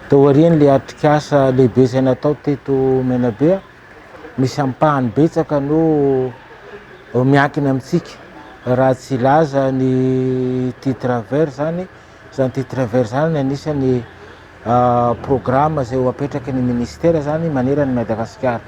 Tao aorian'ilay atrikasa lehibe izay natao teto Menabe, misy ampahany betsaka no miankina amintsika. Raha tsy hilaza ny titre vert izany, izany titre vert izany anisan'ny ah, programa izay ho apetraky ny minisitera izany manerana an'i Madagasikara.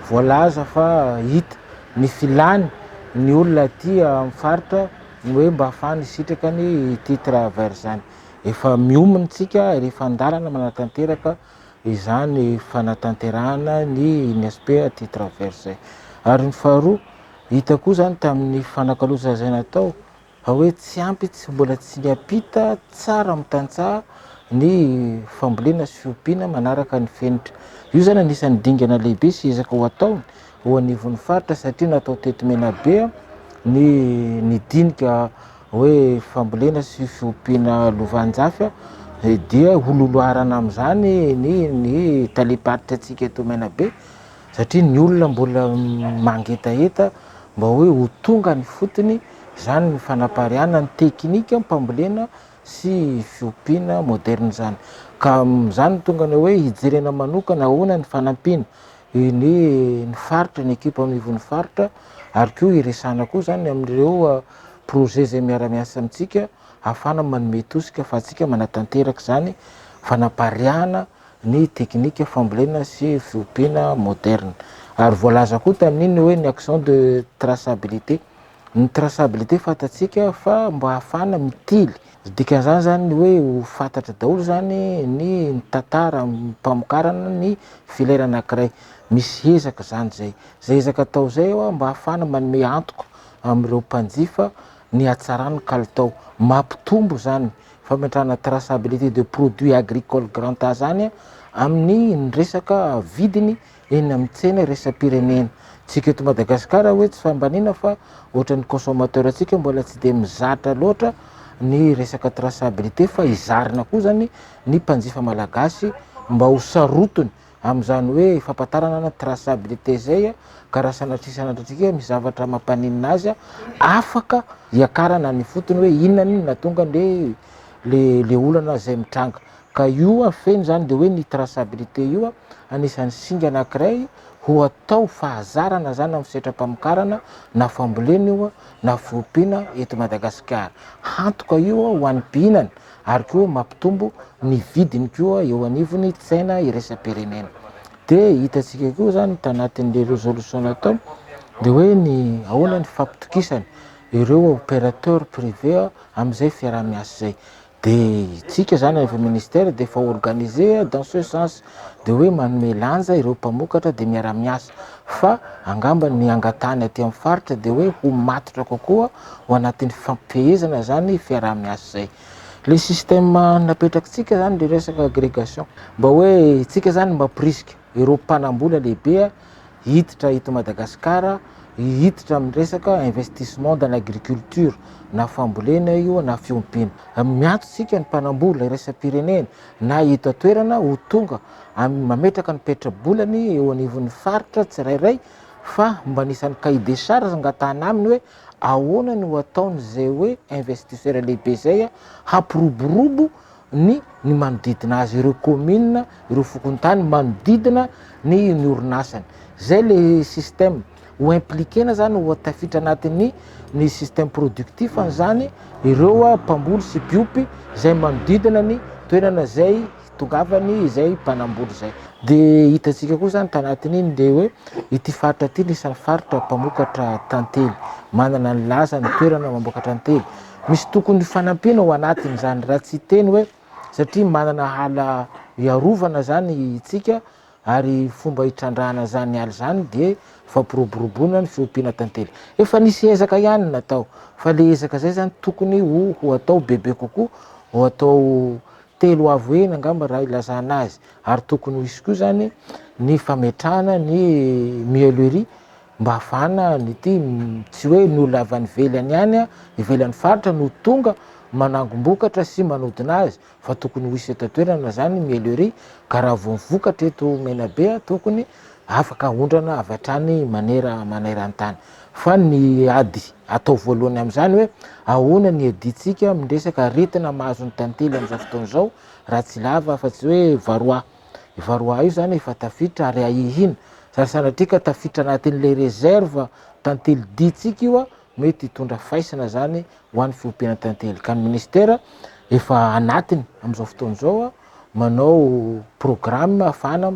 Voalaza fa hita ny filany ny olona aty amin'ny faritra ny hoe mba afahany hisitraka ny ity travers zany. Efa miomy ny tsika ary efa andalana manatanteraka izany fanatanterahana ny INSP aty travers zay. Ary ny faharoa, hita koa zany tamin'ny fanakalozana izay natao Raha hoe tsy ampy, tsy mbola tsy miampita tsara amin'ny tantsaha ny fambolena sy fiompiana manaraka ny fenitra. Io izany anisan'ny dingana lehibe sy ezaka ho atao eo anivon'ny faritra satria natao teto Menabe ny ny dinika hoe fambolena sy fiompiana lovanjafy dia ho loloharana amin'izany ny ny talem-paritrantsika eto Menabe. satria ny olona mbola mangetaheta mba hoe ho tonga ny fotony izany ny fanapariahana ny teknika mpambolena sy fiompiana moderna izany ka izany tonga ny hoe hijerena manokana ahoana ny fanampiana ny ny faritra ny ekipa mivon'ny faritra ary koa hiresana koa izany amin'ireo ah, projet izay miara-miasa amintsika hahafana manome tosika fa atsika manatanteraka izany fanapariahana ny teknika fambolena sy fiompiana moderne. Ary voalaza koa tamin'iny hoe ny action de traçabilité. Ny traçabilité fantatsika fa mba hahafahana mitily. Dikan'izany zany ny hoe ho fantatra daholo zany ny tantara mpamokarana ny filière anankiray. Misy ezaka izany izay. Izay ezaka atao izay mba hahafahana manome antoka amin'ireo mpanjifa ny hatsaran'ny kalitao. Mampitombo izany fametrahana traçabilité de produits agricoles grand A zany amin'ny resaka vidiny eny amin'ny tsena iraisam-pirenena. Tsika eto Madagasikara hoe tsy fambaniana fa ohatran'ny consommateur tsika mbola tsy dia mizatra loatra ny resaka traçabilité fa izarina koa zany ny mpanjifa malagasy mba ho sarotiny Amin'izany hoe fampatarana na traçabilité izay ka raha sanatria sanatriantsika misy zavatra mampaninona azy afaka hiakarana ny fotony hoe inona ny natonga le le le olana izay mitranga ka io feno izany dia hoe ny traçabilité io anisan'ny singa anankiray ho atao fahazarana izany amin'ny setra-pamokarana na fambolena io na fiompiana eto Madagasikara. Hantoka io ho an'ny mpihinana ary koa mampitombo ny vidiny koa eo anivon'ny tsena iraisam-pirenena. Dia hitantsika koa izany tanatin'ilay resolution atao dia hoe ny ahoana ny fampitokisana ireo opérateur privé amin'izay fiaraha-miasa izay. Dia isika izany avy ao ministère dia efa organisé dans ce sens. dia hoe manome lanja ireo mpamokatra dia miara-miasa fa angamba ny angatahany aty amin'ny faritra dia hoe ho matotra kokoa ho anatin'ny fifampifehezana izany fiaraha-miasa izay. Le système napetrakitsika zany le resaka agrégation mba hoe tsika zany mba prisika ireo mpanambola lehibe hiditra eto Madagasikara hiditra amin'ny resaka investissement dans l'agriculture na fambolena io na fiompiana miantotsika ny mpanambola iresa-pirenena na eto an-toerana ho tonga amin'ny mametraka ny petra-bolany eo anivon'ny faritra tsirairay fa mba anisan'ny cahier des charges angatahana aminy hoe ahoana no ataon'izay hoe investisseur lehibe izay hampiroborobo ny ny manodidina azy ireo commune ireo fokontany manodidina ny ny orinasany izay le système ho impliquer-na zany ho tafiditra anatin'ny ny système productif an'izany ireo ah, mpamboly sy mpiompy izay manodidina ny toerana izay hitongavany izay mpanamboly izay. Dia hitantsika koa izany tanatin'iny dia hoe ity faritra ity ny isan'ny faritra mpamokatra tantely, manana ny lazany toerana mamokatra tantely. Misy tokony fanampiana ao anatin'izany raha tsy hiteny hoe satria manana hala iarovana izany itsika, Ary fomba hitrandrahana izany ala izany dia fampiroboroboana ny fiompiana tantely. Efa nisy ezaka ihany ny natao, fa ilay ezaka izay izany tokony ho ho atao bebe kokoa, ho atao telo avo heny angamba raha ilazana azy, ary tokony ho hisy koa izany ny fametrahana ny mielerie mba hahafahana an'ity, tsy hoe ny olona avy any ivelany ihany, ivelan'ny faritra no tonga manangom-bokatra sy manodina azy, fa tokony ho hisy eto an-toerana izany ny miellerie ka raha vao vokatra eto Menabe tokony afaka aondrana avy hatrany manera maneran-tany fa ny ady atao voalohany amin'izany hoe ahoana ny iadiantsika amin'ny resaka aretina mahazo ny tantely amin'izao fotoana izao raha tsy lava afa-tsy hoe varoa varoa io izany efa tafiditra ary ahihina zary sanatria ka tafiditra anatin'ilay reserve tantely diantsika io Mety hitondra faisana izany ho an'ny fiompiana tantely ka ny minisitera efa anatiny amin'izao fotoana izao manao programme hafahana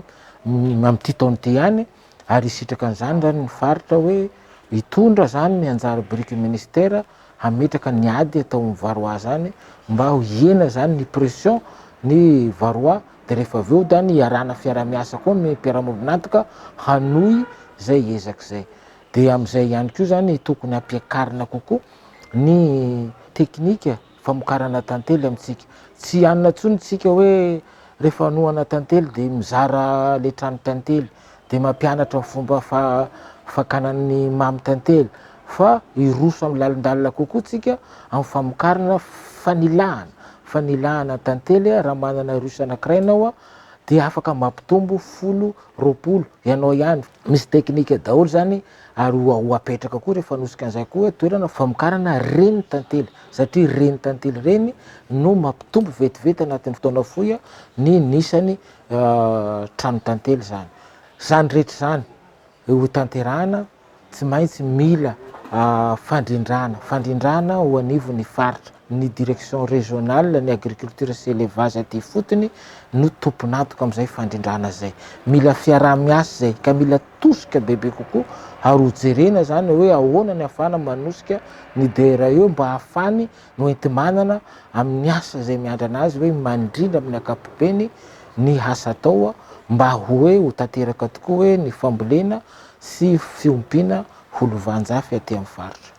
amin'ity taona ity ihany ary hisitraka an'izany izany ny faritra hoe hitondra izany ny anjara biriky ny minisitera hametraka ny ady atao amin'ny varroa izany mba ho hihena izany ny pression ny varroa dia rehefa avy eo dia ny iarahana fiaraha-miasa koa ny mpiara-miombon'antoka hanohy izay ezaka izay. Dia amin'izay ihany koa izany tokony hampiakarina kokoa ny teknika famokarana tantely amintsika. Tsy hanina intsony isika hoe rehefa hanohana tantely dia mizara ilay trano tantely, dia mampianatra ny fomba fakana ny mamy tantely, fa hiroso amin'ny lalindalina kokoa isika amin'ny famokarana fanilahana, fanilahana tantely raha manana russe anankiray ianao. dia afaka mampitombo folo, roapolo, ianao ihany. Misy teknika daholo izany ary ho hapetraka koa rehefa hanosika an'izay koa hoe toerana famokarana reny tantely satria reny tantely reny no mampitombo vetivety anatin'ny fotoana fohy ny nisany trano tantely izany. Izany rehetra izany. hotanterahana tsy maintsy mila fandrindrana fandrindrana ho anivon'ny faritra. Ny direction régionale ny agriculture sy élevage aty ifotony no tompon'antoka amin'izay fandrindrana izay. Mila fiaraha-miasa izay ka mila tosika bebe kokoa ary hojerena izany hoe ahoana ny afahana manosika ny DRE mba hahafany Noenti-manana amin'ny asa izay miandrana azy hoe mandrindra amin'ny ankapobeny ny asa atao mba hoe ho tanteraka tokoa hoe ny fambolena sy fiompiana ho lovanjafy aty amin'ny faritra.